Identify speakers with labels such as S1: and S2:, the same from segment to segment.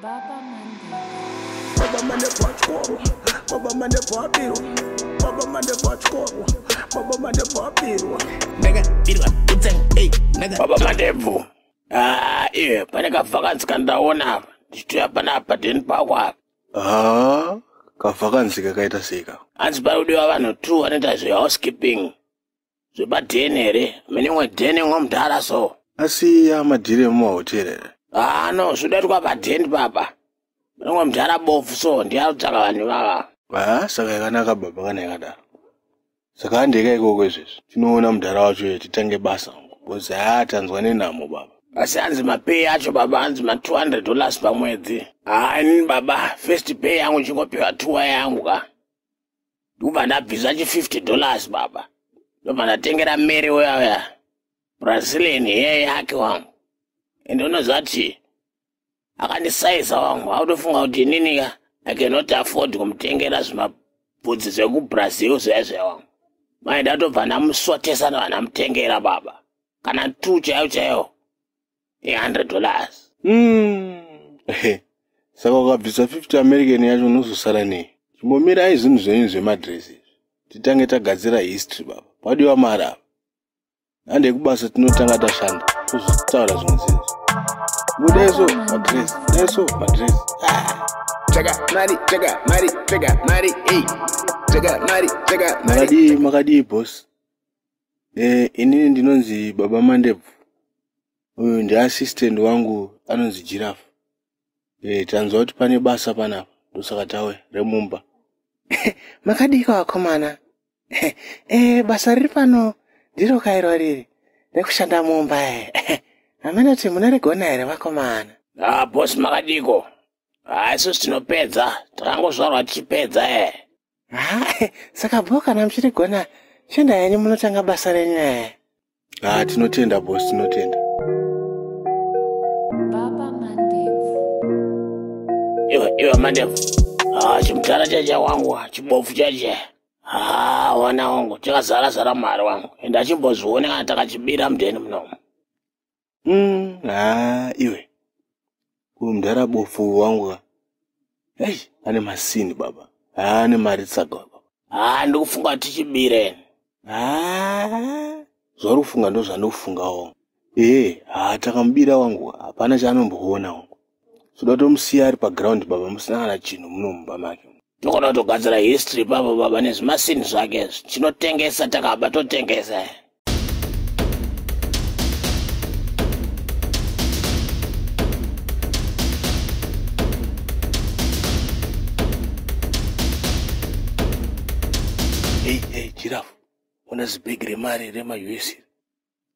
S1: Baba Mande. Baba Mande Pachkoro. Baba Mande Papiro. Baba Mande Pachkoro. Baba Mande Papiro. Nega, Birwa,
S2: Utseng, hey, Nega. Baba Mande Bvu.
S3: Ah, iye, pane kavhakanzi kandaona apa. Ndichitoya pana apa deni pako apa. Ah, kavhakanzi
S4: kakaita seka. Hanzi pari kudiwa vanhu
S3: two vanoita zve housekeeping. zvepadheni here minimwe dheni ngo mudhara so asi amadhiri
S4: emumahoteri here haa no zvodaitwa
S3: padheni papa minimwe mudhara bofu so ndiyakutsvaka vanhu vava haa saka yakanaka baba
S4: kana yakadaro saka andeka ikoko izvezvi tinoona mudhara wacho ye titange basa ngo bcoz haa tanzwa nenhamo baba asi hanzi mapay
S3: acho baba hanzi ma 200 dollars pamwedzi haa inini baba first pay yangu chingopiwa tuwa yangu ka ndikubva ndabvisa chi 50 dollars baba ndobva ndatengera mary uya uya brazilian yeye yake wangu ende unozati akandisaiza wangu akutofunga kuti ininika i cannot afford kumutengera zvimabvudzi zvekubrazil zvezve wangu mai ndatobva ndamusotesa ndovanamutengera baba kana two chaiyo chaiyo ne 100 dollars mm.
S4: saka ukabvisa 50 american yacho unozosara nei chimbomirai zvinhu zvenyu zvemadress izvi titange tagadzira history baba padiwa mari apa handei kubasa tinotanga tashanda kuzvitaura zvimwe zvinhu budaiso madress daiso madress ah. Chega, Mari, chega,
S2: Mari, chega, Mari, ei. Chega, Mari, chega, Mari. Makadi, makadi, boss.
S4: Eh, inini ndinonzi baba mandebvu uyu ndiassistant wangu anonzi jirafu e, eh, tanzwa kuti pane basa panapa ndosaka tauya remumba
S5: makadika vakomana e, basa riri pano ndiro kairwa riri rekushanda mumba e hameno kuti munoregona here vakomana a ah, bosi
S3: makadiko haisusi ah, tinopedza takangozvarwa tichipedza e Hayi,
S5: saka bho kana muchirigona shanda yenyu munotanga basa renyu ee. Ah, tinotenda
S4: boss, tinotenda.
S6: Baba Mandevu.
S3: Iwe, iwe Mandevu. Ah, chimudhara chacha wangu, ah, chibofu chacha. Ah, wana wangu, chakazara zara mari wangu. Enda chimbozvione kana takachibira mudheni munomu. Mm, ah,
S4: iwe uyu mdara bofu wangu ka ei ane masini baba haa ane mari tsaga baba haa ndikufunga tichibire
S3: haa
S4: zvauri kufunga ndozvandikufungawo ee haa takamubira wangu hapana chaanomboona wangu Soda tomusiya ari paground baba musina kana chinhu munomumba make. Tokona kutogadzira
S3: history baba baba nezvimasini zvake izvi. Tinotengesa takaba totengesa.
S4: Hey, hey, giraffe. Ona zibhegi remari rema-US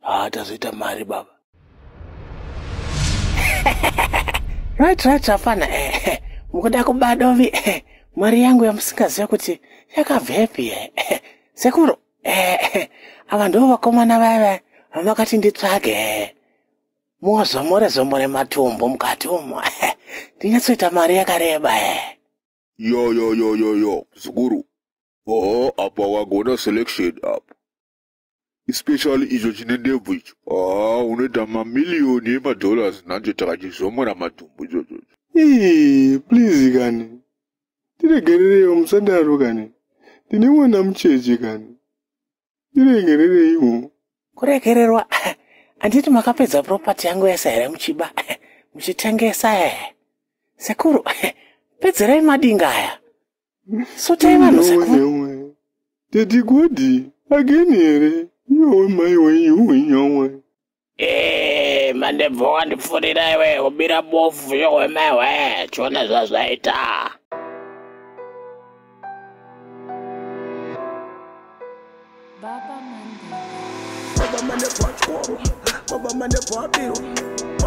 S4: haa tazoita mari baba
S5: right right hapana eh, mukuda kuba dovi eh, mari yangu yamusingaziva kuti yakabvepi eh, eh, sekuru eh, eh, ava ndivo vakomana vaya vaya vamakati nditsvage eh. mozomore zomore matumbu mukati umo eh, ndinyatsoita mari yakareba eh. yo yo yo yo
S7: yo zukuru oho apa wagona selection apa especially icho chine ndebvu icho haa unoita mamiliyoni emadollars nanjo takachizomora matumbu ichocho ii
S4: please kani tiregerereiwo musadaro kani ndine mwana mucheche kani tiregerereiwo kuregererwa
S5: handiti makapedza propati yangu yese here muchiba muchitengesa e sekuru pedzerai madinga aya so taivanhu zako tati
S4: kodi ageni here iyowe mai wenyu wenyowe eh,
S3: mandebvo wandipfurira iwe ubira bofu yowe mai we chiona zvazvaita Baba Mande
S1: Baba Mande Baba Baba Mande Baba